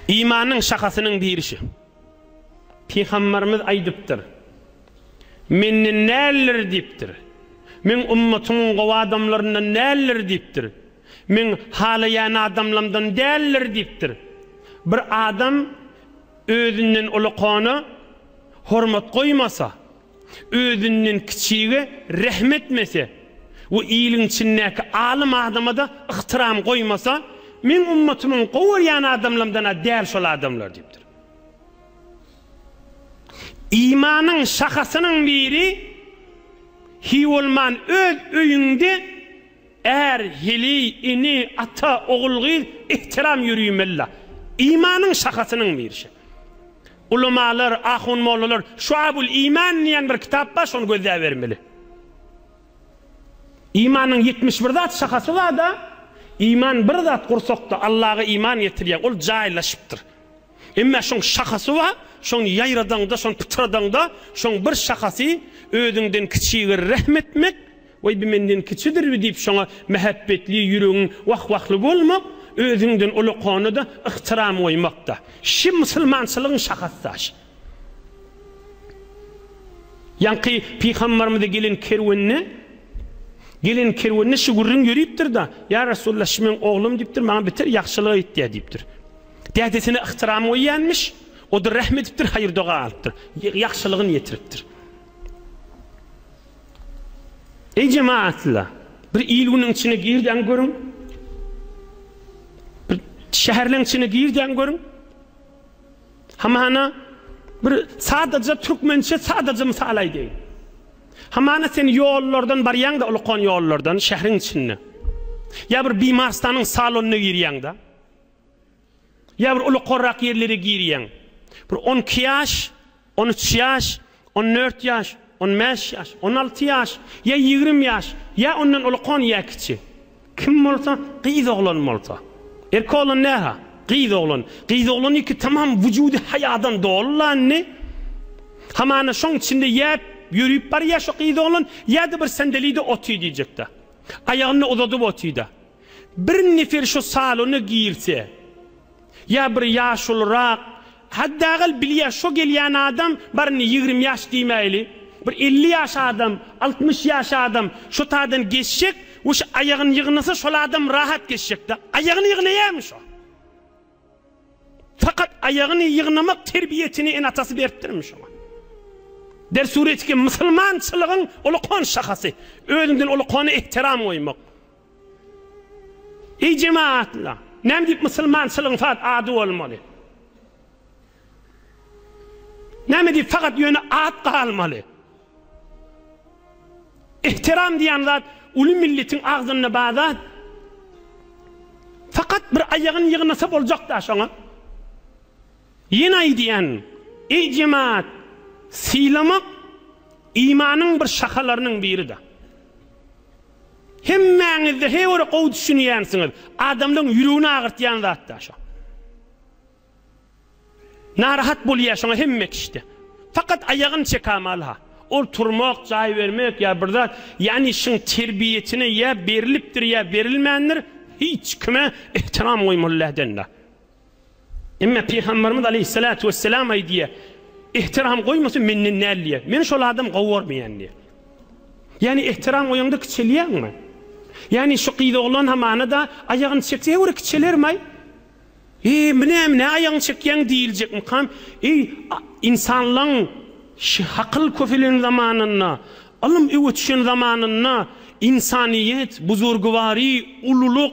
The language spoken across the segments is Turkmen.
Imanyň şahasynyň birisi. Pygamberimiz aýdypdyr, Menden däldir diýipdir. Meň ümmetimiň gowy adamlaryndan däldir diýipdir. Meň halaýan adamlamdan däldir diýipdir. Bir adam özünden ulukana hormat goýmasa, Özünden kiçige rehm etmese we iliň içindäki alym adama-da ygtyram goýmasa, meň ummatymyň gowarýan adamlamdan-a däl şol adamlar diýipdir. Imanyň şahasynyň biri, hiý bolman öz öýüňde är, heleý, ene, ata, ogul, gyz, ygtyram ýöriýmeli-la. Imanyň şahasynyň biri şe. Ulamalar, ahun-mollalar Şuabul iman diýen bir kitap bar, şony gözläbermeli. Imanyň ýetmiş bir zat şahasy bar-da, iman bir zat gursakda Allaga iman getirýär, ol jaýlaşypdyr. Emma şoň şahasy bar, şony ýaýradaňda, şony pytradaňda, şoň bir şahasy özüňden kiçigä rehim etmek, Weý bi menden kiçidirbi diýip şoňa mähäbbetli ýüregiň wah-wahly bolmak, özüňden ulakana-da ygtyram goýmak-da. Şi musulmançylygyň şahasy daşy. Ýaňky pygambarymyza gelen kerwende, gelen kerwende şi gürrüň ýöripdir-da, Ýa Resulallah şi meň oglum diýipdir, maňa beter ýagşylyk etýä diýipdir. Dädesine ygtyram goýýanmyş, o-da rähm edipdir, haýyr-doga alypdyr, ýagşylygyny ýetiripdir. Eý jemaatlar, bir il-günüň içine girdiň görüň. Bir şäherleň içine girdiň görüň. Hamana bir sadaja türkmençe sadaja mysal aýdaýyn. Hamana sen ýollardan barýaň-da, ulukan ýollardan şäheriň içinde. Ýa bir bimarstanyň salonyna girýäň-de. Ýa bir uly korrak ýerlere girýäň. Bir on iki ýaş, on üç ýaş, on dört ýaş, on bäş ýaş, on alty ýaş, ýa ýigrimi ýaş, ýa ondan ulkan ýa kiçi. Kim bolsa, gyz oglan bolsa. Erkek oglan näha? Gyz oglan. Gyz oglanyňky tamam wujudy haýadan doly la indi. Hamana şoň içinde ýäp, ýörüp barýa şu gyz oglan, ýa-da bir sendeli-de oty diýjek-dä. Aýagyny-da uzadyp oty-da. Bir nefer şu salona girse, ýa bir ýaşulyrak, haddagal bilýär şo gelýän adam baryny ýigrimi ýaş diýmäýli, bir elli ýaş adam, altmyş ýaş adam şo taýdan geçjek we şu aýagyny ýygnasa şol adam rahat geçjek-dä. Aýagyny ýygnaýarmy şo? Fakat aýagyny ýygnamak terbiýesini ene-atasy beripdirmi şoňa? Der suret ki, musulmançylygyň ulukan şahasy, özüňden ulukana ehtiram goýmak. Eý jemaatna, näme diýip musulmançylygyň fakt ady bolmaly? Näme diýip fakat ýöne at galmaly? Ihtiram diýen zat uly milletiň agzynda bar zat. Fakat bir aýagyny ýygnasa boljak da şoňa. Ýene aýdýan, eý jemaat, sylamak imanyň bir şahalarynyň biri da. Hemmäňizde he bir gowy düşünýänsiňiz, adamlaryň ýüregini agyrtýan zatda şo. Narahat bolýa şoňa hemme kişide. Fakat aýagyny çekamaly ha. Ol turmak, jaý bermek ýa bir zat, ýani şyň terbiýesine ýa berilipdir ýa berilmändir, hiç kime ehtiram goýmaly läden da. Emma Pygamberimiz Aleyhissalatu vesselam aýdýar, Ihtiram goýmasy menden däl diýýär. Meni şol adam gowy görmeýän diýýär. Ýagny ihtiram goýaňda kiçelýäňmi? Ýagny şu gyz oglan hamana-da aýagyny çekse, hewre kiçelermaý. Eý, bu näme, nä aýagyňy çekýäň diýiljekmikam? Eý, insanlaň ş hakyl köpelen zamanynda, ylym öwütişen zamanynda, insaniýet, buzurgywary, ululyk,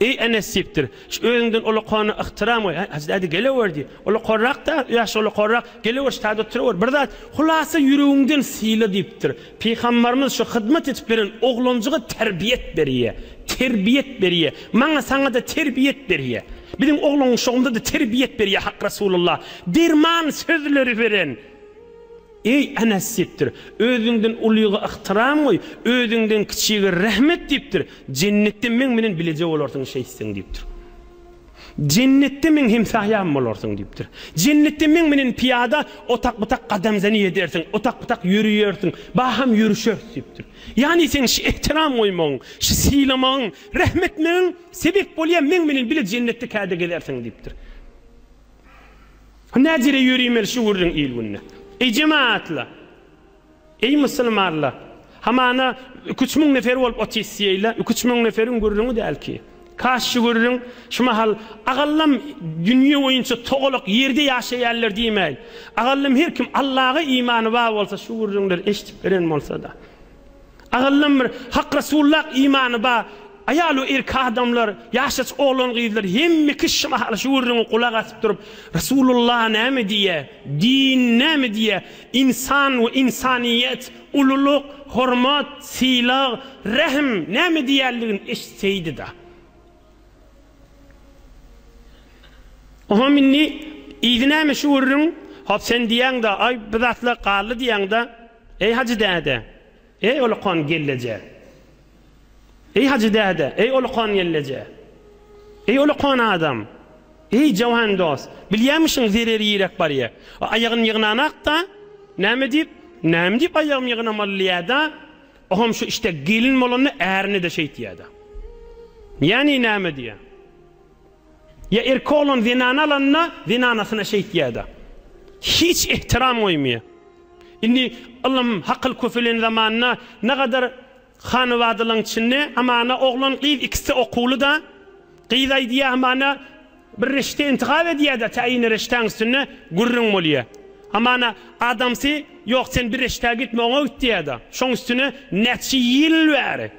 Eý, Enes diýipdir. Şu özüňden ulukana ygtyram goý. Hä, Hajy däde, gelewer diý. Ulukanrak-da, ýaşy ulukanrak. Gelewer, şu taýda oturyber. Bir zat, hulasa ýüregiňden syla diýipdir. Pygambarymyz şu hyzmat edip beren oglanjyga terbiýet berýä. Terbiýet berýä. Maňa, saňa-da terbiýet berýä. Biziň oglanşygymyza-da terbiýet berýä Hak Resulullah. Derman sözleri beren. Eý, Enes diýipdir. Özüňden ulyga ygtyram goý, özüňden kiçige rehmet diýipdir. Jennetde meň bilen bileje bolarsyň şeýtseň diýipdir. Jennetde meň hemsaýam bolarsyň diýipdir. Jennetde meň bilen pyýada otak-butak gadamzany edersiň, otak-butak ýöreýersiň, baham ýörüşeris diýipdir. Ýagny seň şu ygtyram goýmagyň, şu sylamagyň, rehmetmegiň sebäp bolýar meň bilen bile jennetde käde gezersiň diýipdir. Näzire ýörimeli şu gürrüň il-günde. Eý, jemagatlar! Eý, musulmanlar! Hamana iki üç müň nefer bolup otisyýeýle, iki üç müň neferiň gürrüňi däl ki. Kaş şu gürrüň şu mahal agallam dünýe boýunça togalak ýerde ýaşaýanlar diýmäýin, agallam her kim Allaga imany bar bolsa şu gürrüňleri eşidip beren bolsa-da. Agyllym bir Hak Resullak imany ba Aýal we erki adamlar ýaşaç oglan gyzlar hemme kişi mahaly şu gürrüňi gulak asyp durup Resulullah näme diýýä din näme diýýä insan we insanyýet ululyk hormat sylag rähm näme diýýänligini eşitseýdida. Oňam indi yzy näme şu gürrüň? Hop sen diýýäň-de, aý, bu zatlar galdy diýýäň-de, eý, Hajy däde, eý, olakan gelleje! Eý, Hajy däde, eý, olakan gelleje! Eý, olakan adam! Eý, jawan dost! Bilýämişiň, zereri ýiräp barýa. Aýagyny ýygnanak-da, näme diýip, näme diýip aýagymy ýygnamaly diýýä-dä. O hem şu işte gelin bolanda ärine-de şeýt diýýär-dä. Ýani näme diýýär? Ýa erkek oglan zenany alanda zenanasyna şeýt diýýär-dä. Hiç ehtiram goýmaýar. Indi ylym, hakyl köpelen zamanda nagadar hanybadalaň içinde amana oglan, gyz ikisi-de okuwly-da. Gyz aýdýar amana. Bir rişde intigap edýär-de, tä ine rişdäň üstünde gürrüň bolýar. Hamana, adamsy, Ýok, sen bir rişdä gitme, oňa git diýýär-de. Şoň üstüne näçe ýyl bäri,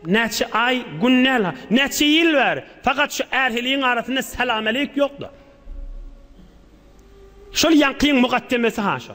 näçe aý, gün däl-ha, näçe ýyl bäri fakat şu ärhiligiň arasynda salam-aleýk ýok-da. Şol ýaňkyň mugaddemesi-ha şo.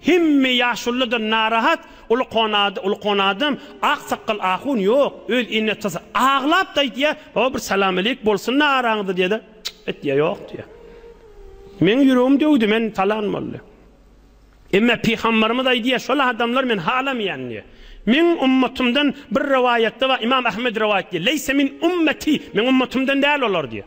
Hemme ýaşulydan narahat uly konady uly konadym ak sakgal ahun ýok öz inne atasy aglap da aýtýa o bir salam aleyk bolsun da araňyzda diýede etýa ýok diýa meň ýüregim döwdi men talan boldy emme pygambarymyz aýdýa şol adamlar men halamýan diýa meň ummatymdan bir rowaýatda bar imam ahmed rowaýat diýa leýse min ummeti meň ummatymdan däl olar diýa.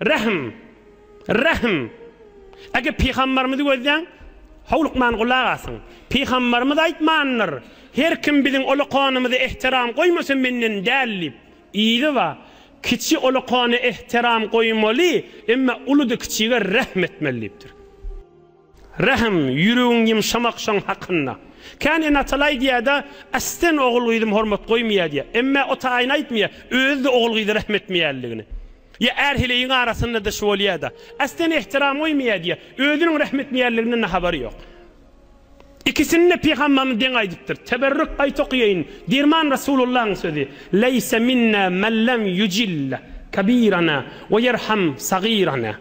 Rähm! Rähm! Eger pygamberimizi gözläň, howlukman gulak asyň. Pygamberimiz aýtmandyr, Her kim biziň ulukanymyza ähtiram goýmasa menden däl diýip. Yzyba, kiçi ulukana ähtiram goýmaly, emma uludy kiçige rähm etmeli diýipdir. Rähm, ýüregiň ýymşamak şoň hakynda. Kän ene-atalar aýdýar-da, Ästen ogul-gyzym hormat goýmaýar diýýär. Emmä o taýyny aýtmaýar, özi-de ogul-gyza rähm etmeýänligini. Ýa är-heleýiň arasynda-da şu bolýar-da. Ästen ähtiram goýmaýar diýýär, özüniň rähm etmeýänliginden-de habary ýok. Ikisini-de pygamberimiz deň aýdypdyr. Teberrük aýt okaýaýyn, Derman Rasulullahyň sözi, Leýse minna men lem ýujilla kabirana we ýerham sagirana.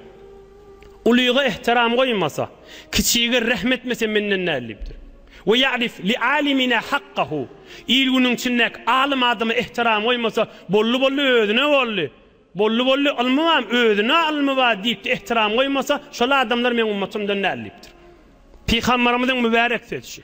Ulyga ehtiram goýmasa, kiçige rehm etmese menden däl diýipdir. We ýa'rif li alimina hakkahu, il-günüň içindäki alym adama ehtiram goýmasa, boldy-boldy özüne boldy, boldy-boldy ylmy bam özüne ylmy bar diýipdi ehtiram goýmasa, şol adamlar meň ummatymdan däl diýipdir. Pygambarymyzyň mübärek sözçi.